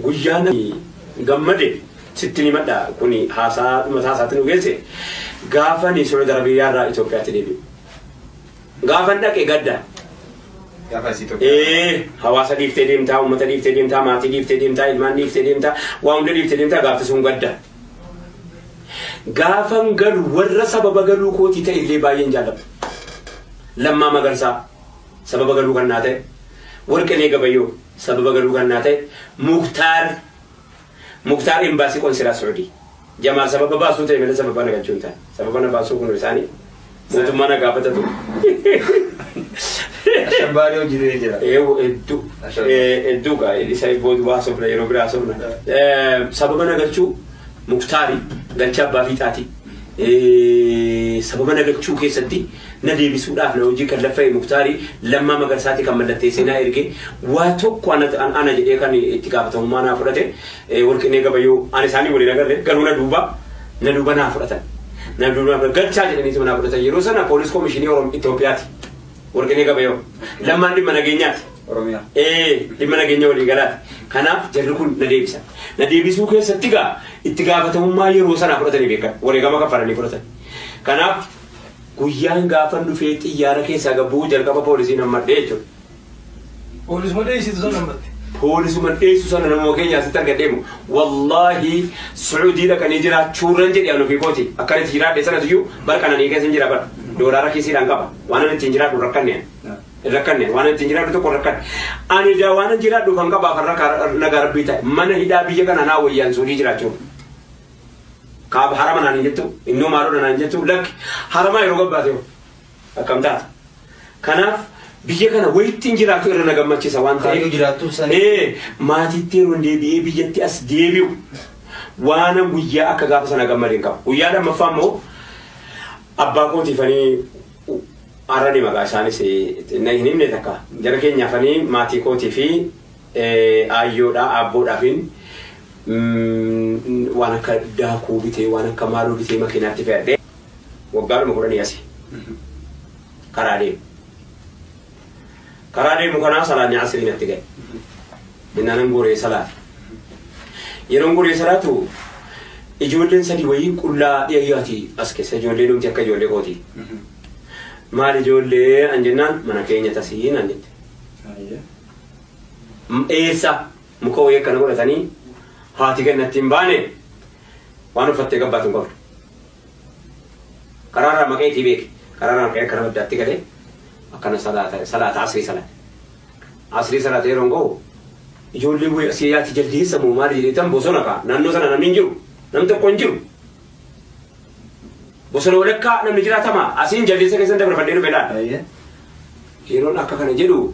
Guyyaa namni gammade sittin himadha kun haasaa dhumataa isaatti nu geesse gaafani Saudi Arabiyaa irraa Itoophiyaatti deebi'u. Gaafan dhaqe gadda. Gaafa isii tokko. Ee hawaasa dhiiftee deemtaa, uummata dhiiftee deemtaa, maatii dhiiftee deemtaa, ilmaan dhiiftee deemtaa, waa hunda dhiiftee deemtaa gaafti sun gadda. Gaafan galu warra sababa galuu kootii ta'e illee baay'een jaalladha. Lammaa Magarsaa. sababa galuu kan naa ta'e Warqinee Gabayyoo sababa galuu kan naa ta'e Muktaar Muktaar Imbaasii Qonsilaa Suudii Jamaal sababa baasuu ta'e malee sababa na galchuu hin taane sababa na baasuu kun isaanii mootummaa na gaafatatu. Ashabbaadee hojjetee jira. Eewu hedduu hedduu gaa isa booda waa sobna yeroo biraa sobna. Sababa na galchuu Muktaari galcha abbaa fiixaati. Sababa na galchuu keessatti na deebisuu dhaaf na wajjin kan laffa'e Muktaari Lammaa Magarsaati kan mallatteessee naa erge. Waa tokko ana jedhee kan itti gaafatamummaa naa fudhate Warqinee Gabayyoo. Ani isaanii waliin agarre garuu na duuba na duuba naa fudhatan. Na duuba naa galchaa jedhaniituma naa fudhatan. Yeroo sana Poolis Komishinii Oromiyaa Itoophiyaati Warqinee Gabayyoo. Lammaan dhimma nageenyaati. Oromiyaa. Ee dhimma nageenya walii galaati. Kanaaf jarri kun na deebisan. Na deebisuu keessatti egaa itti gaafatamummaa yeroo sanaa fudhatanii beekan. Wareegama kaffalanii fudhatan. Kanaaf Guyyaan gaafan dhufee xiyyaara keessaa gad bu'uu jalqaba poolisiin hammadhe jechuudha. Poolisuma dheessitu sana hammatte. Poolisuma dheessu sana namoota keenya asitti argadhee moo wallaahi Suudii dhaqanii jiraachuurran jedhe an ofii kooti akkan itti jiraadhe sanas iyyuu bar qananii keessa hin jira bar doolaara kiisiidhaan qaba waan an ittiin jiraadhu rakkanne hin rakkanne waan an ittiin jiraadhu tokko rakkanne ani daa waan an jiraadhu kan qabaa kan rakkaa nagaa rabbii ta'e mana hidhaa biyya kana naa wayyaan Suudii jiraachuuf. Kaaba harama naan hin jettu, innoo maaloodha naan hin jettu, lakki haramaa yeroo gabbaate hoo akkam taata? Kanaaf biyya kana wayittiin jiraatu irra na gammachiisa waan ta'eef. Kaayyoo jiraattuun sana. Ee maatiitti yeroon deebi'ee biyyatti as deebi'u waanan guyyaa akka gaafa sana gammade hin qabu. Guyyaa lammaffaa immoo abbaa kootiifanii har'a ni maqaa isaanis eh, na hin himne takka jara keenyaafanii maatii kootii fi Aayyoodhaa aabboo dhafin waan akka daakuu bitee waan akka maaloo bitee makiinaatti fe'adhee waggaadhuma kudhanii asi karaa deemu. Karaa deemu kanaa salaanni asrii natti ga'e. Innaanan goree salaate. Yeroon goree salaatu ijoolleen sadii wayii qullaa dhiyaati as keessa ijoollee dhumti akka ijoollee kooti. Maal ijoollee an jennaan mana keenya tasii naan jette. Eessa muka wayii akkana godhatanii haati gannatti hin baane waan uffattee gabbaatu hin qabdu. Karaarraa maqeetii beeki. Karaarraa maqee akkana baddaatti galee akkana salaata salaata asrii salaate. Asrii salaatee yeroo hin gahu ijoollee wayii asii yaati jaldeessa moo maali jedheetan bosona ka'a. Naannoo sana namni hin jiru. Namni tokko hin jiru. Bosona walakkaa namni jiraatamaa asiin jaldeessa keessan dabarfadhee dhufe laata. Ayyee. Yeroon akka kana jedhu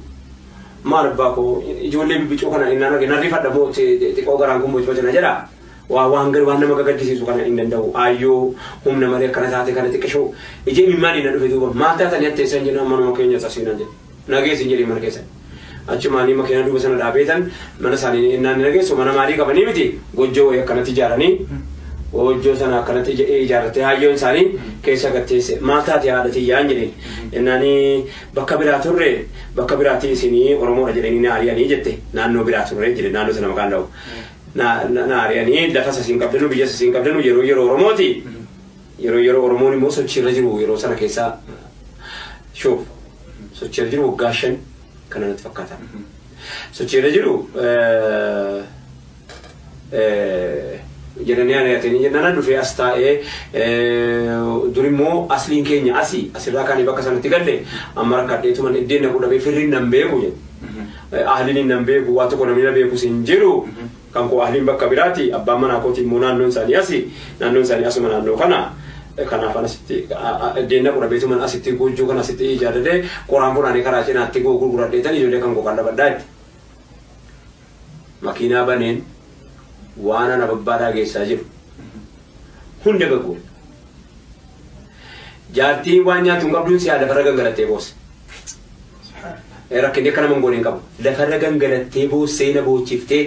maal abbaa koo ijoollee bibbicuu kana innaan arge nan rifadha moo xiqqoo garaan kun bocboca na jedha. Waa waan waan nama gagaddisiisu kana hin danda'u. Aayyoo humna malee akkana taate kana xiqqishoo ijee mimmaanii na dhufe duuba maal taatanii atteessan jennaan manuma keenya sasiinan jedhe. Nageessin jedhee mana keessan. Achumaanii makiinaa duuba sana dhaabeetan mana isaanii innaan ni nageessu mana maalii qabanii miti gojjoo wayii akkanatti ijaaranii gojjoo sana akkanatti ijaarrattee haayyoon isaanii keessa gatteesse maal taate haadha tiyyaan jedheen. Jennaani bakka biraa turre, bakka biraati isini Oromoodha jed'ani na ariani jette. Naanno biraa turre jed'e, naanno sana maqaa ind'awu. Na na ariani lafa sasi inqabdanu, biyya sasi inqabdanu, yeroo yeroo Oromooti. Yeroo yeroo Oromoon immoo sochii irra jiru yeroo sana keessa shuuf sochii irra jiru waggaa shan kana natti fakkaata. Sochii irra jiru jedhanii ari'atanii jennaan dhufee as taa'ee dur immoo asliin keenya asi asirraa kaanii bakka sanatti galle amma rakkadheetuman iddeen naquu dhabee firriin nan beeku jedhe ahliin nan beeku waa tokko namni na beekus hin jiru kan koo ahliin bakka biraati abbaan manaa kootii immoo naannoon isaanii asi naannoon isaanii asuma naannoo kana kanaaf asitti iddeen naquu dhabeetuman asitti goojjoo kana asitti ijaarratee qoraan funaanee karaa cinaatti gurguradheetan ijoollee kan koo kan dhabadhaa itti. Makiinaa baneen waanan ababbaadhaa geessaa jiru hunda gagguure. Jaartiin waan nyaattu hin qabduun si'aa lafarra gangalattee boosse. Subhaanallah. Rakkinni akka nama hin goone hin qabu. Lafarra gangalattee boossee na boochiftee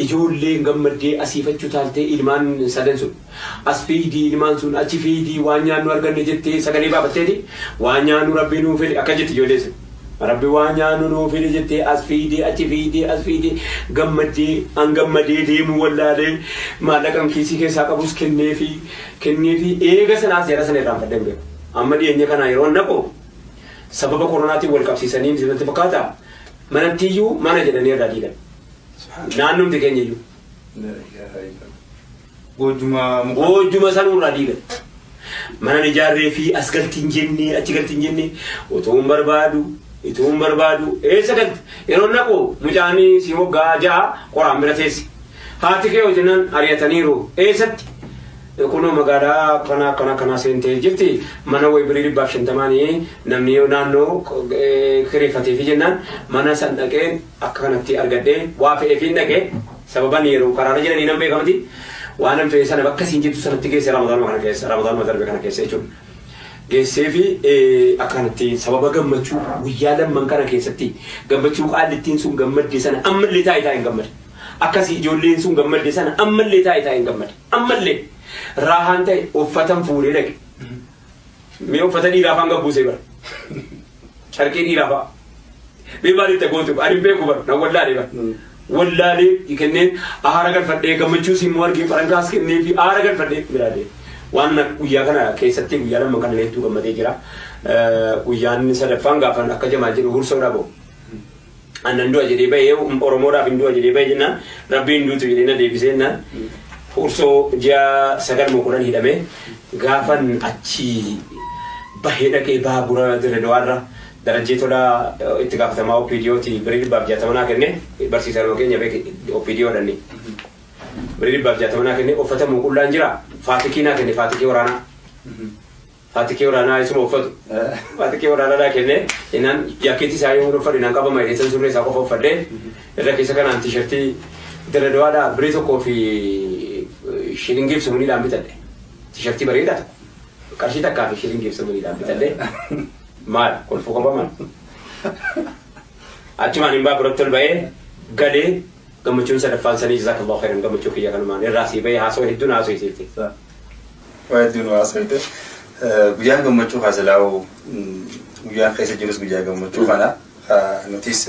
ijoolleen gammaddee asiif achi utaaltee ilmaan sadan sun. As fiidii ilmaan sun achi fiidii waan nyaannu arganne jettee sagalee baafatteeti waan nyaannu Rabbi nuu fide akkas jetti ijoollee sun. Rabbi waan nyaannu nuu fide jettee as fiidee achi fiidee as fiidee gammaddee an gammadee deemuu wallaalee maallaqan kiisii keessaa qabus kenneefi kenneefi eega sanaas jara sana irraanfadhee hin beeku. Amma dhiyeenya kana yeroo naqu sababa koronaatiin wal qabsiisanii miti natti fakkaata manatti iyyuu mana jedhanii irraa diigan. Naannumti keenya iyyuu. Goojjuma sanuu irraa diigan. Manan ijaarree fi as galti hin jenne, achi galti hin jenne, utuun barbaadu, ituun barbaadu, eessa galti? Yeroon dhaqu mucaan si waggaa ja'a qoraan bira teessi. Haati kee hojinan ari'ataniiru. Eessatti? Kunoo magaalaa akkanaa akkanaa akkanaa seentee jirti. Mana wayi birii dhibbaaf shantamaanii namni naannoo kireeffatee fi jennaan mana san dhaqeen akka kanatti argadhe waa fe'eefiin dhaqe sababan yeroo karaarra jiranii nan beeka miti waanan fe'e sana bakka siin jettu sanatti geesse ramadaanuma kana keessa ramadaanuma darbe kana keessa jechuudha geessee fi akka kanatti sababa gammachuu guyyaa lamman kana keessatti gammachuu qaallittiin sun gammadde sana ammallee taa'e taa'e hin gammade akkasii ijoolleen sun gammadde sana ammallee taa'e taa'e hin gammade ammallee raahaan ta'e uffatan fuudhee dhaqe Mee uffata dhiiraa faan gabbuusee bara. Carqii dhiiraa fa'a. Mee maal itti gootu? Ani hin beeku bara. Na wallaalee bara. Wallaalee kenneen aara galfadhee gammachuu siin moo argee farankaas kennee fi aara galfadhee biraalee. Waan na- guyyaa kana keessatti guyyaa lama kana hedduu gammadee jira. Eh, Guyyaan sadaffaan gaafan akka jamaal jedhu hursoodha boo. An nan du'a jedhee bahe Oromoodhaaf hin du'a jedhee bahe jennaan rabbii hin duutu jedhee na deebisee jennaan hursoo ji'a sagal moo kudhan hidhame gaafan achi bahee dhaqee baabura dirre dawaarra darajjee tolaa itti gaafatamaa OPDOti birii dhibbaaf jaatama naa kenne barsiisaa nama keenya beeki OPDO dhanni birii dhibbaaf jaatama naa kenne uffata muuqullaan jira faatikii naa kenne faatikii waraanaa Atikee waraanaa isuma uffatu. Atikee waraanaa naa kennee inaan jaakkeetii isaa yoo uffadhe naan qabama jedhee san surree isaa qofa uffadhee irra keessa kanaan tiishartii dirredawaadhaa birii tokkoo fi shilingii fi sumaniidhaan bitadhe. Tiishartii bareedaa tokko. Qarshii takkaa fi shilingii fi sumaniidhaan bitadhe. Maal kolfuu qaba maal? Achumaan hin baaburatti ol ba'ee galee gammachuun sadaffaan sanii jazaakallahu khairan gammachuu kiyya kanumaan irraa sii ba'ee haasoo hedduun haasoo isiitti. Waa hedduu nu haasofte. Guyyaan gammachuu kaa silaa'u guyyaan keessa jirus guyyaa gammachuu kana nutis